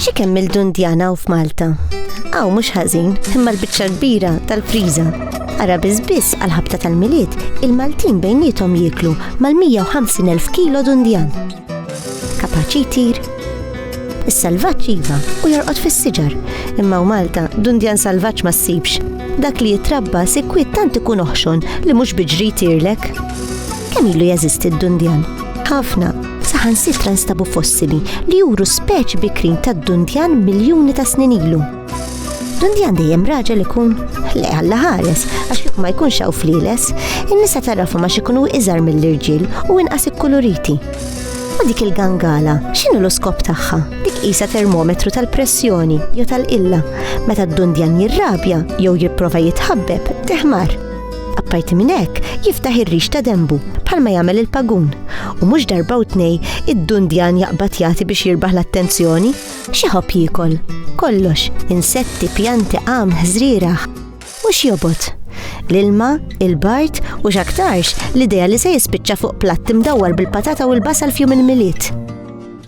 Xi kemm il-dundjana u f'Malta? Aw mhux ħażin, imma l-biċċa kbira tal-friża. Ara biss għal-ħabta tal-miliet, il-Maltin bejnietom jieklu mal-150,000 kilo dundjan. Kapaċi jtir? Is-salvaġġ iva u jorqod fis-siġar, imma u Malta dundjan salvaġġ ma ssibx. Dak li jitrabba sikwit tant ikun oħxon li mhux biġri jtirlek. Kemm ilu jeżisti d-dundjan? Ħafna, saħan sitra nstabu fossili li juru speċi bikrin tad-dundjan miljuni ta' snin ilu. Dundjan dejjem raġel ikun le għalla ħares, għax kif ma jkunx hawn fliles, in-nisa tarrafu ma xikunu iżar mill-irġiel u inqas ikkuluriti. U dik il-gangala, x'inhu l-iskop tagħha? Dik qisha termometru tal-pressjoni jew tal-qilla. Meta d-dundjan jirrabja jew jipprova jitħabbeb, teħmar. Apparti minn hekk, jiftaħ ir-rix ta' dembu bħalma jagħmel il-pagun u mhux darba u tnej id-dundjan jaqbad jagħti biex jirbaħ l-attenzjoni. X'jħobb jiekol? Kollox, insetti, pjanti, għam, ħżrieraħ. U x'jobot? L-ilma, il-bart u x'aktarx l-idea li se jispiċċa fuq platt imdawwar bil-patata u l-basal f'jum il-milied.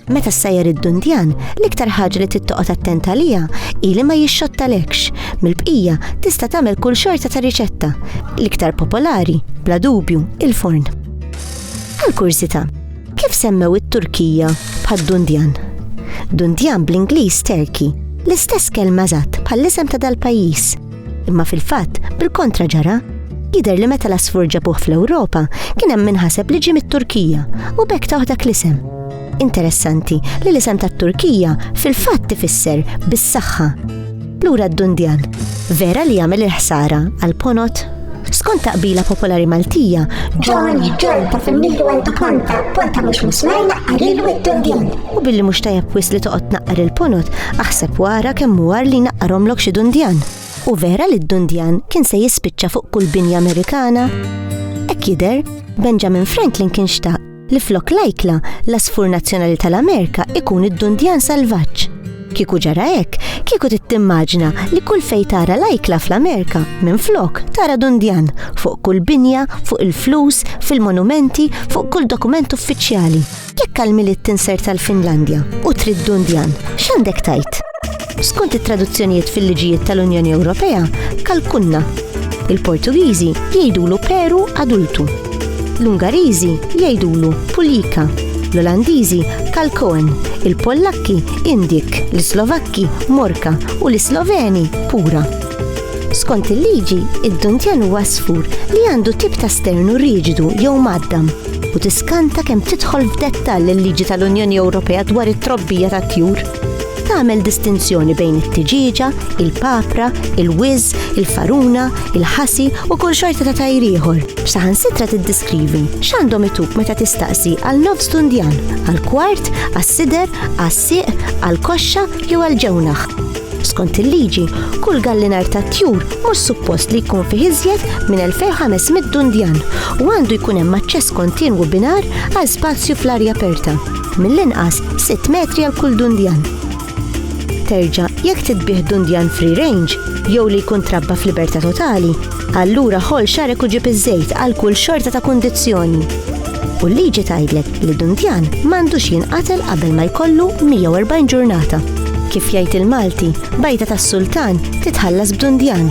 Meta ssajjar id-dundjan, l-iktar ħaġa li tittoqgħod attent għalija hi li ma jixxottalekx. Mill-bqija tista' tagħmel kull xorta ta' riċetta. L-iktar popolari, bla dubju, il-forn. Għal kurżità, Kif semmew it-Turkija bħad Dundjan? Dundjan bl-Ingliż Terki, l-istess kelma żatt bħall-isem ta' dal-pajjiż. Imma fil-fatt, bil-kontra ġara, jidher li meta l-asfur ġabuh fl-Ewropa kien hemm minħaseb li ġie mit-Turkija u bekk taħ dak l-isem. Interessanti li l-isem tat-Turkija fil-fatt tifisser bis-saħħa. Lura d-dundjan, vera li jagħmel il-ħsara għal ponot? Skont taqbila popolari Maltija, John John ta' fil-milu għandu ponta, ponta mhux musmar naqqarilu id-dundjan. U billi mhux tajjeb wis li toqgħod naqqar il-ponot, aħseb wara kemm huwar li naqqarhomlok xi dundjan. U vera li d-dundjan kien se jispiċċa fuq kull binja Amerikana? Ek jider, Benjamin Franklin kien xtaq li flok lajkla l-asfur nazzjonali tal-Amerika ikun id-dundjan salvaġġ. Kieku ġara hekk, kieku tittimmaġna li kull fej tara lajkla fl-Amerika minn flok tara dundjan fuq kull binja, fuq il-flus, fil-monumenti, fuq kull dokument uffiċjali. Jekk għal-milied tinser tal-Finlandja u trid dundjan, x'għandek tajt? Skont it-traduzzjonijiet fil-liġijiet tal-Unjoni Ewropea, kalkunna. Il-Portugiżi jgħidulu peru adultu. L-Ungariżi jgħidulu pulika. L-Olandiżi kalkoen, il-Pollakki indik, l-Slovakki morka u l-Sloveni pura. Skont il-liġi, id-duntjan huwa sfur li għandu tip ta' sternu riġidu jew maddam u tiskanta kemm tidħol f'dettall il-liġi tal-Unjoni Ewropea dwar it-trobbija tat-tjur. Tagħmel distinzjoni bejn it-tiġieġa, il-papra, il-wiz, il-faruna, il-ħasi u kull xorta ta' tajr ieħor. Saħansitra tiddiskrivi x'għandhom itub meta tistaqsi għal nofs dundjan, għal kwart, għas-sider, għas-sieq, għal koxxa jew għal ġewnaħ. Skont il-liġi, kull gallinar ta' tjur mhux suppost li jkun fih iżjed minn 2500 dundjan u għandu jkun hemm aċċess kontinwu binar għal spazju fl-arja aperta. mill-inqas 6 metri għal kull dundjan. Terġa' jekk titbigħ dundjan free range jew li jkun trabba f'libertà totali, allura ħoll xarek u ġib iż-żejt għal kull xorta ta' kundizzjoni. U l-liġi tgħidlek li dundjan m'għandux jinqatel qabel ma jkollu 140 ġurnata. Kif jgħid il-Malti, bajta tas-sultan titħallas b'dundjan.